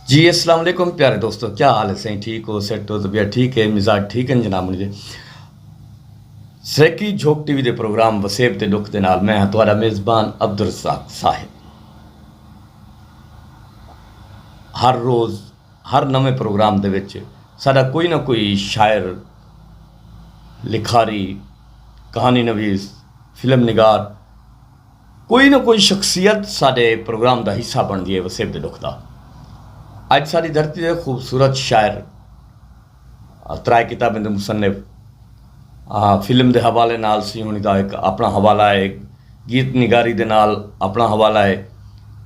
جی اسلام علیکم پیارے دوستو کیا حال ہے سائیں ٹھیک ہو سیٹ ہو طبیعت ٹھیک ہے مزاج ٹھیک ہے جناب مجھے سریکی جھوک ٹی وی دے پروگرام وسیب تے ڈکھ دے نال میں ہاں تہاڈا میزبان عبد الرزاق صاحب ہر روز ہر نویں پروگرام دے وچ سارا کوئی نہ کوئی شاعر لکھاری کہانی نویس فلم نگار کوئی نہ کوئی شخصیت ساڈے پروگرام دا حصہ بنڑدی ہے وسیب دے ڈکھ دا۔ اج ساڈی دھرتی دے خوبصورت شاعر، ترائے کتابیں دے مصنف، فلم دے حوالے نال سینہونی دا ہک اپنڑاں حوالہ ہے، گیت نگاری دے نال اپنڑاں حوالہ ہے،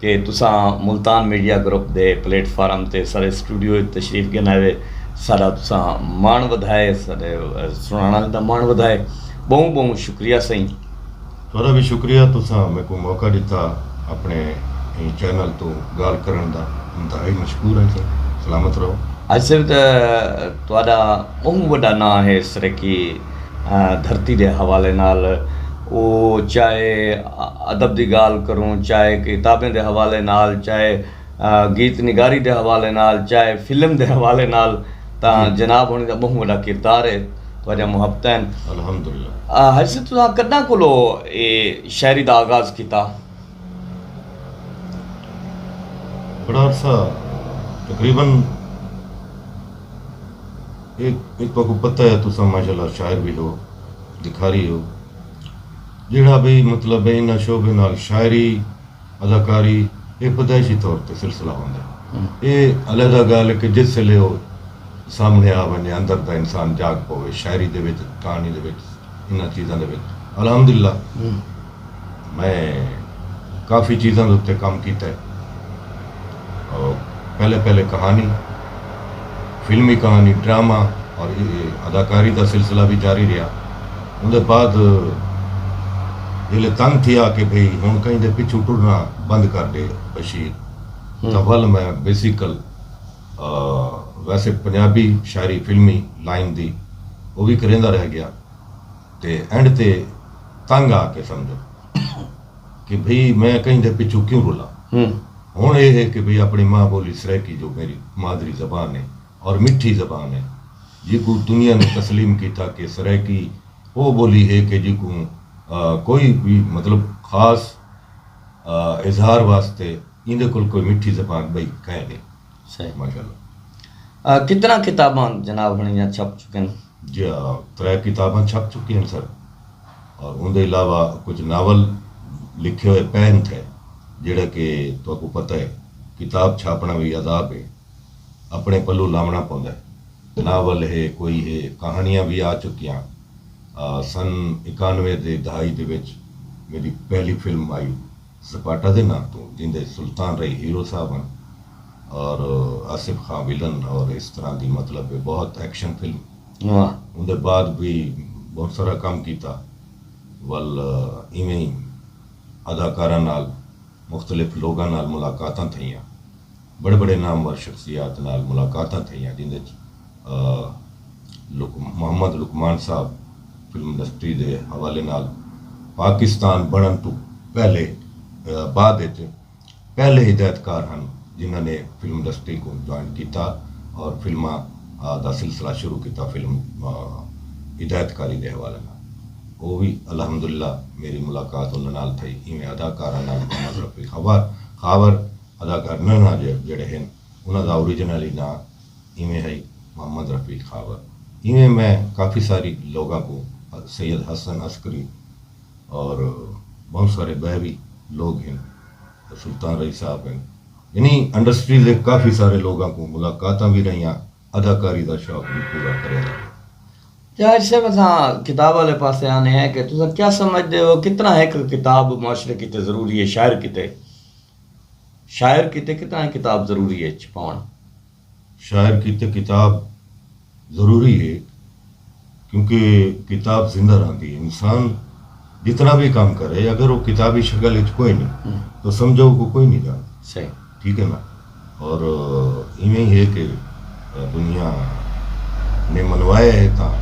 کہ تساں ملتان میڈیا گروپ دے پلیٹ فارم تے ساڈے سٹوڈیو اچ تشریف گھن آئے ساڈا تساں ماݨ ودھائے ساڈے سݨاݨ آلیں دا ماݨ ودھائے ٻہوں ٻہوں شکریہ سئیں۔ تہاݙا وی شکریہ تساں میکوں موقع ݙتا اپݨے ایں چینل توں ڳالھ کرݨ دا انتہائی مشکور ہاں سئیں سلامت رہو۔ اج سئیں تہاݙا ٻہوں وݙا ناں ہے سرائیکی۔ دھرتی دے حوالے نال او چاہے ادب دی گالھ کروں چاہے کتابیں دے حوالے نال چاہے گیت نگاری دے حوالے نال چاہے فلم دے حوالے نال تاں جناب ہونی دا بہوں وڈا کردار ہے تہاڈیاں محبتاں ہن۔ الحمدللہ۔ حاجی صاحب تساں کڈاں کولو اے شاعری دا آغاز کیتا؟ بڑا عرصہ تقریبا ایک تو کو پتہ ہے تساں ماشاءاللہ شاعر بھی ہو لکھاری ہو جیڑا بھی مطلب ہے انہاں شعبے نال شاعری اداکاری اے پیدائشی طور تے سلسلہ ہوندا ہے اے علیحدہ گال ہے کہ جس ویلے او سامنے آ ونجے اندر دا انسان جاگ پوے شاعری دے وچ کہانی دے وچ انہاں چیزاں دے وچ الحمدللہ میں کافی چیزاں دے اتے کم کیتا ہے۔ پہلے پہلے کہانی، فلمی کہانی، ڈرامہ اور اداکاری دا سلسلہ وی جاری رہیا۔ اوں دے بعد جیلے تنگ تھیا کہ بھئی ہن کہیں دے پچھوں ٹرنا بند کر ڈے بشیر تاں ول میں بیسیکل ویسے پنجابی شاعری فلمی لائن دی او وی کریندا رہ گیا۔ تے اینڈ تے تنگ آ کے سمجھن کہ بھئی میں کہیں دے پچھوں کیوں رلاں۔ ہن اے ہے کہ بھئی اپݨی ماں ٻولی سرائیکی جو میݙی مادری زبان ہے اور مٹھی زبان ہے جیکوں دنیا نے تسلیم کیتا کہ سرائیکی او ٻولی ہے کہ جیکوں کوئی وی مطلب خاص اظہار واسطے ایندے کول کوئی مٹھی زبان ٻئی کائنی۔ صحیح ماشاءاللہ۔ کتنا کتاباں جناب ہݨیاں چھپ چکن؟ جیہاں ترے کتاباں چھپ چکیاں سن اور اوندے علاوہ کجھ ناول لکھے ہوئے پین تھے جیہڑا کہ تہاکوں پتہ ہے کتاب چھاپنڑاں وی عذاب ہے اپنڑے پلو لاونڑاں پوندا ہے ناول ہے کوئی ہے کہانڑیاں وی آ چکیاں سن اکانوے دی دہائی دے وچ میڈی پہلی فلم آئی سپاٹا دے ناں توں جیندے سلطان رئی ہیرو صاحب ہن اور آصف خاں ولن اور اس طرح دی مطلب بہت ایکشن فلم اوندے بعد وی بہت سارا کم کیتا ول ایویں اداکاراں نال مختلف لوگاں نال ملاقاتاں تھئیاں۔ وݙے وݙے نامور شخصیات نال ملاقاتاں تھئیاں جیندے اچ محمد لقمان صاحب فلم انڈسٹری دے حوالے نال پاکستان بݨݨ توں پہلے بعد اچ پہلے ہدایت کار ہن جنہاں نے فلم انڈسٹری کوں جوائن کیتا اور فلماں دا سلسلہ شروع کیتا فلم ہدایت کاری دے حوالے نال او وی الحمداللہ میری ملاقات انہاں نال تھئی ایویں اداکارہ نال محمد رفیق خاور اداکار ننھا جیل جیڑھے ہن انہاں دا اوریجنلی ناں ایویں ہئی محمد رفیق خاور ایویں میں کافی ساری لوگاں کوں سید حسن عسکری اور بہوں سارے بئے وی لوگ ہن سلطان رئی صاحب ہن یعنی انڈسٹری دے کافی سارے لوگاں کوں ملاقاتاں وی رہیاں اداکاری دا شوق وی پورا کریا ونجے۔ طاہر صاحب اساں کتاب آلے پاسے آنے ہیں کہ تساں کیا سمجھدے ہو کتنا ہک کتاب معاشرے کیتے ضروری ہے شاعر کیتے؟ شاعر کیتے کتاں اے کتاب ضروری اے چھپاوݨ؟ شاعر کیتے کتاب ضروری اے کیونکہ کتاب زندہ رہندی اے انسان جتنا وی کم کرے اگر او کتابی شکل اچ کوئنی تاں سمجھو او کوئنی ڄاݨدا ٹھیک اے نا اور ایویں ہے کہ دنیا نے منوایا ہے تاں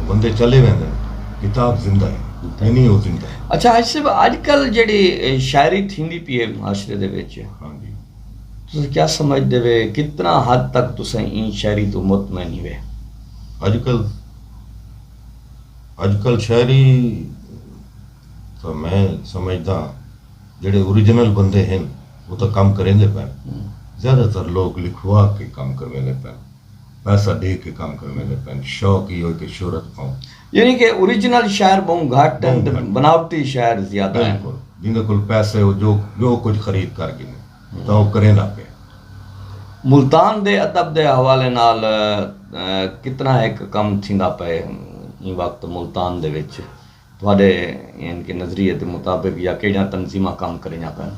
بندے چلے ویندن کتاب زندہ ہے یعنی او زندہ ہے۔ اچھا حاجی صاحب اج کل جیڑی شاعری تھیندی پی ہے معاشرے دے وچ تساں کیا سمجھ دے وے کتنا حد تک تساں ایں شاعری توں مطمئن ہی وے۔ اج کل اج کل شاعری تاں میں سمجھداں۔ جیڑھے اوریجنل بندے ہن او تاں کم کریندے پن۔ زیادہ تر لوک لکھوا کے کم کرویندے پن۔ پیسہ ڈے کے کم کرویندے پن۔ شوق ایہو کہ شہرت پاؤں۔ یعنی کہ اوریجنل شاعر بہوں گھٹ ہن تے بناوٹی شاعر زیادہ ہن۔ بالکل۔ جیندے کول پیسے او جو جو کجھ خرید کر گھنے تاں او کریندا پئے۔ ملتان دے ادب دے حوالے نال کتنا ہک کم تھیندا پئے ایں وقت ملتان دے وچ؟ تہاݙے یعنی کہ نظریے دے مطابق یا کیڑھیاں تنظیماں کم کریندیاں پئن؟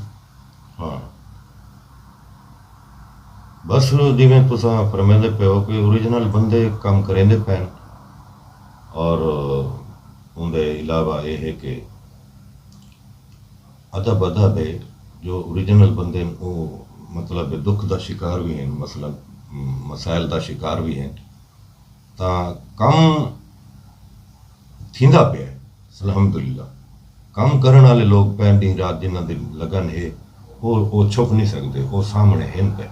ہاں بس جیویں تساں فرمیندے پئے ہو کہ اوریجنل بندے کم کریندے پئن اور اوندے علاوہ اے ہے کہ ادب ادب ہے جو اوریجنل بندے ہن او مطلب دکھ دا شکار وی ہن مثلا مسائل دا شکار وی ہن۔ تاں کم تھیندا پئے الحمدللہ کم کرݨ آلے لوک پئے ݙینہ رات جنہاں دی لگن ہے او او چھپ نی سڳدے او سامݨے ہن پئے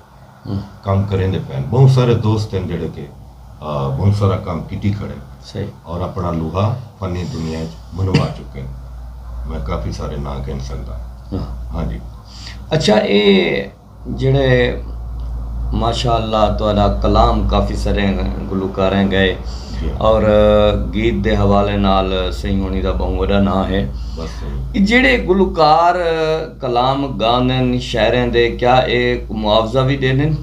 کم کریندے پئن ٻہوں سارے دوست ہن جیڑھے کہ ٻہوں سارا کم کیتی کھڑن اور اپݨا لوہا فنی دنیا اچ منوا چکن میں کافی سارے ناں گھن سڳدا ہاں جی اچھا اے جیڑھے ماشاء اللہ تہاڈا کلام کافی سارے گلوکاراں گائے اور گیت دے حوالے نال سئیں ہونی دا بہوں وڈا ناں ہے جیڑھے گلوکار کلام گاندن شاعراں دے کیا اے معاوضہ وی ڈیندن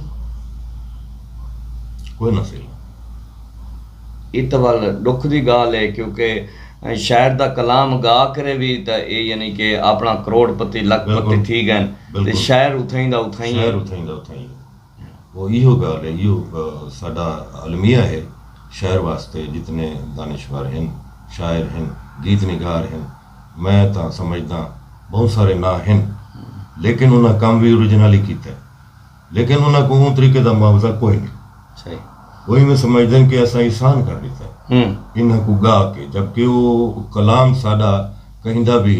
کوئی نہ سئیں اے تاں ول ڈکھ دی گالھ اے کیونکہ شاعر دا کلام گا کرے وی تاں اے یعنی کہ اپنا کروڑ پتی لکھ پتی تھی گئن۔ تے شہر اتھائیں دا اتھائیں ہے۔ شہر اتھائیں دا اتھائیں ہے۔ او ایہو گالھ ہے، ایہو ساڈا المیہ ہے، شہر واسطے جتنے دانشور ہن، شاعر ہن، گیت نگار ہن، میں تاں سمجھداں بہوں سارے ناں ہن، لیکن انہاں کم وی اوریجنل ای کیتا ہے، لیکن انہاں کوں اوں طریقے دا معاوضہ کوئی نئیں۔ او ایویں سمجھدن کہ اساں احسان کر ڈتا ہے انہاں کوں گا کے، جبکہ او کلام ساڈا کہیں دا وی۔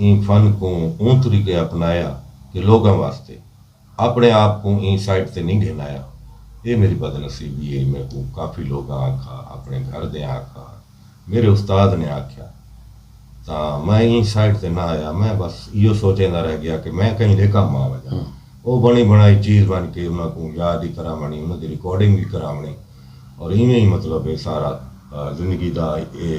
ایں فن کوں اوں طریقے اپنایا کہ لوگاں واسطے، اپنڑے آپ کوں ایں سائٹ تے نی گھن آیا۔ اے میڈی بد نصیبی اے میکوں کافی لوگاں آکھا، اپنڑے گھر دیاں آکھا، میڈے استاد نے آکھیا تاں میں ایں سائٹ تے نہ آیا میں بس ایہو سوچیندا رہ گیا کہ میں کہیں دے کم آ ونجاں۔ او بنڑی بنڑائی چیز ونج کے انہاں کوں یاد ای کراونڑی انہاں دی ریکارڈنگ وی کراونڑی اور ایویں ای مطلب اے سارا زندگی دا اے۔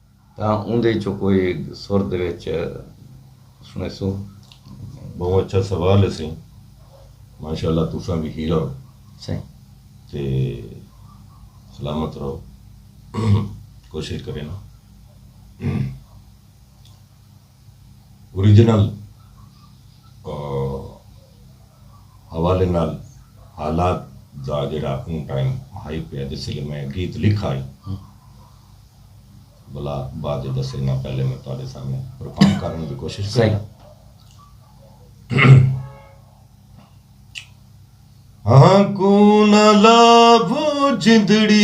تاں اوندے چوں کوئی سر دے وچ سنڑیسوں۔ بہوں اچھا سوال ہے سئیں ماشاءاللہ تساں وی ہیرا ہو سائیں تے سلامت رہو کوشش کرینا۔ اوریجنل حوالے نال حالات دا جیڑھا اوں ٹائم ہائی پیا جس ویلے میں گیت لکھا ہئی بلا بعد اچ دسے نہ پہلے میں تہاڈے سامنے پرفارم کرݨ دی کوشش کریاں ہاں کوں نہ لاو جندڑی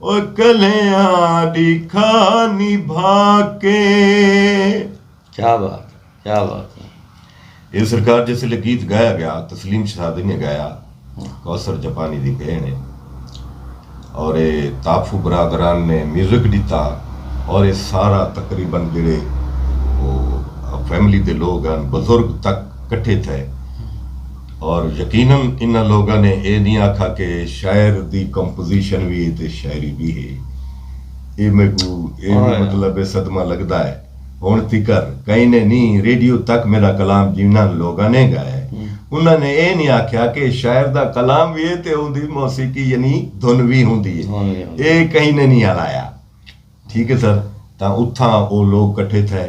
او کلیاں دی کھا نبھا کے۔ کیا بات ہے کیا بات ہے اے سرکار جس ویلے گیت گایا گیا تسلیم شہزادی نے گایا کوثر جاپانی دی بھین ہے اور اے تاپھو برادران نے میوزک ڈتا اور اے سارا تقریبا جڑے او فیملی دے لوگ ہن بزرگ تک کٹھے تھئے اور یقینا انہاں لوگاں نے اے نی آکھا کہ شاعر دی کمپوزیشن وی اے تے شاعری وی ہے۔ اے میکوں اے وی مطلب اے صدمہ لگدا اے۔ ہنڑ تیکر کہیں نے نی ریڈیو تک میڈا کلام جنہاں لوگاں نے گایا اے انہاں نے اے نی آکھیا کہ شاعر دا کلام وی اے تے اوندی موسیقی یعنی دھن وی ہوندی اے۔ اے کہیں نے نی ہلایا۔ ٹھیک اے سر تاں اتھاں او لوگ کٹھے تھئے۔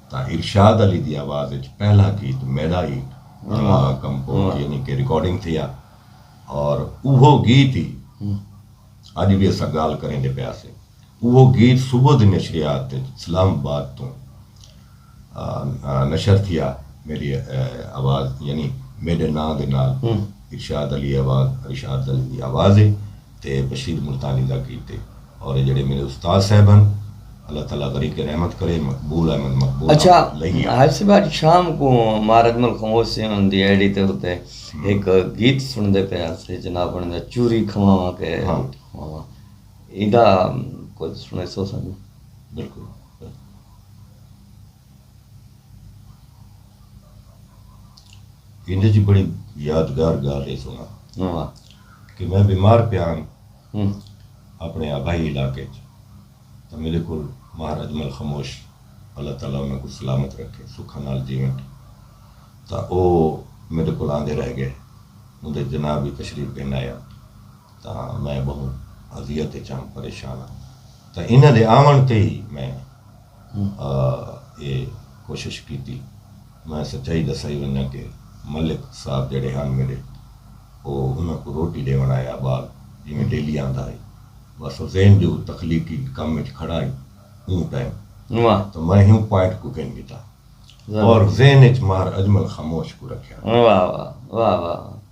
تاں ارشاد علی دی آواز اچ پہلا گیت میڈا ای اونواں کمپوز یعنی کہ ریکارڈنگ تھیا اور اوہو گیت ای اج وی اساں گالھ کریندے پئے ہاسے اوہو گیت صبح دی نشریات اچ اسلام آباد توں نشر تھیا میڈی آواز یعنی میڈے ناں دے نال ارشاد علی آواز ارشاد علی دی آواز اے۔ تے بشیر ملتانی دا کیتے اور اے جیڑھے میڈے استاد صاحب ہن اللہ تعالی غریق رحمت کرے مقبول احمد مقبول اچھا حاج صاحب اج شام کوں مارجم الخموس سے ہن دی ایڈی تے اتے ایک گیت سن دے پے اسے جناب انہاں دا چوری کھواواں کے کھواواں ایندا کچھ سنے سو سن بالکل ایندے وچ بڑی یادگار گالھ اے سونا کہ میں بیمار پیا ہاں اپنے آبائی علاقے وچ تاں میڈے کول ماہر اجمل خموش اللہ تعالی انہاں کوں سلامت رکھے سکھاں نال جیون تاں او میڈے کول آندے رہ گئے اوندے جناح وی تشریف گھن آیا تاں میں بہوں اذیت وچ ہاں پریشان ہاں تاں انہاں دے آون تے ہی میں اے کوشش کیتی۔ میں سچائی دسائی ونجاں کہ ملک صاحب جیڑھے ہن میڈے او انہاں کوں روٹی ڈیونڑ آئے ابال جیویں ڈیلی آندا ہئی بس او ذہن جو تخلیقی کم اچ کھڑا ہئی اوں ٹائم تاں میں ہیوں پوائنٹ کوں گھن گھدا اور ذہن اچ ماہر اجمل خاموش کوں رکھیا۔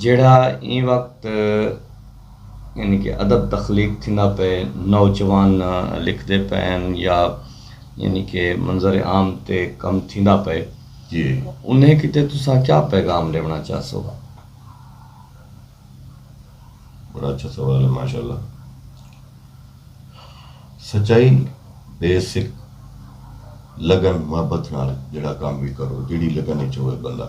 جیڑھا ایں وقت یعنی کہ ادب تخلیق تھیندا پئے نوجوان لکھدے پئن یا یعنی کہ منظر عام تے کم تھیندا پئے انہیں کیتے تساں کیا پیغام ڈیونا چاہسو؟ بڑا اچھا سوال ہے ماشاءاللہ سچائی بیسک لگن محبت نال جیڑا کام بھی کرو جیڑی لگن اچ ہوئے بندہ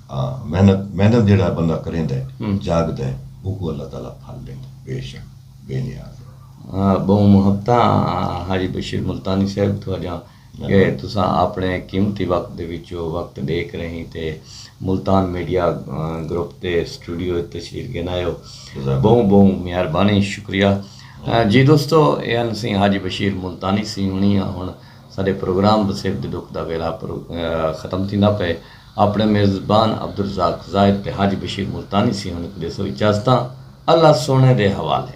ہا محنت محنت جیڑھا بندہ کریندہ ہے جاگدہ ہے اوکوں اللہ تعالی پھل ڈیندہ ہے بے شک بے نیاز ہے۔ بہوں محبتاں حاجی بشیر ملتانی صاحب تہاڈیاں کہ تساں اپنے قیمتی وقت دے وچوں وقت ڈے کریہیں تے ملتان میڈیا گروپ دے سٹوڈیو اچ تشریف گھنائے ہو بہوں بہوں مہربانی شکریہ جی دوستو اے ہن سی حاجی بشیر ملتانی سی ہنی ہن ساڈے پروگرام وسیب دے ڈکھ دا ویلا ختم تھیندا پئے۔ اپݨے میزبان عبدالرزاق زاہد تے حاجی بشیر ملتانی سیہوݨ کوں ݙیسو اجازتاں اللہ سوہݨے دے حوالے۔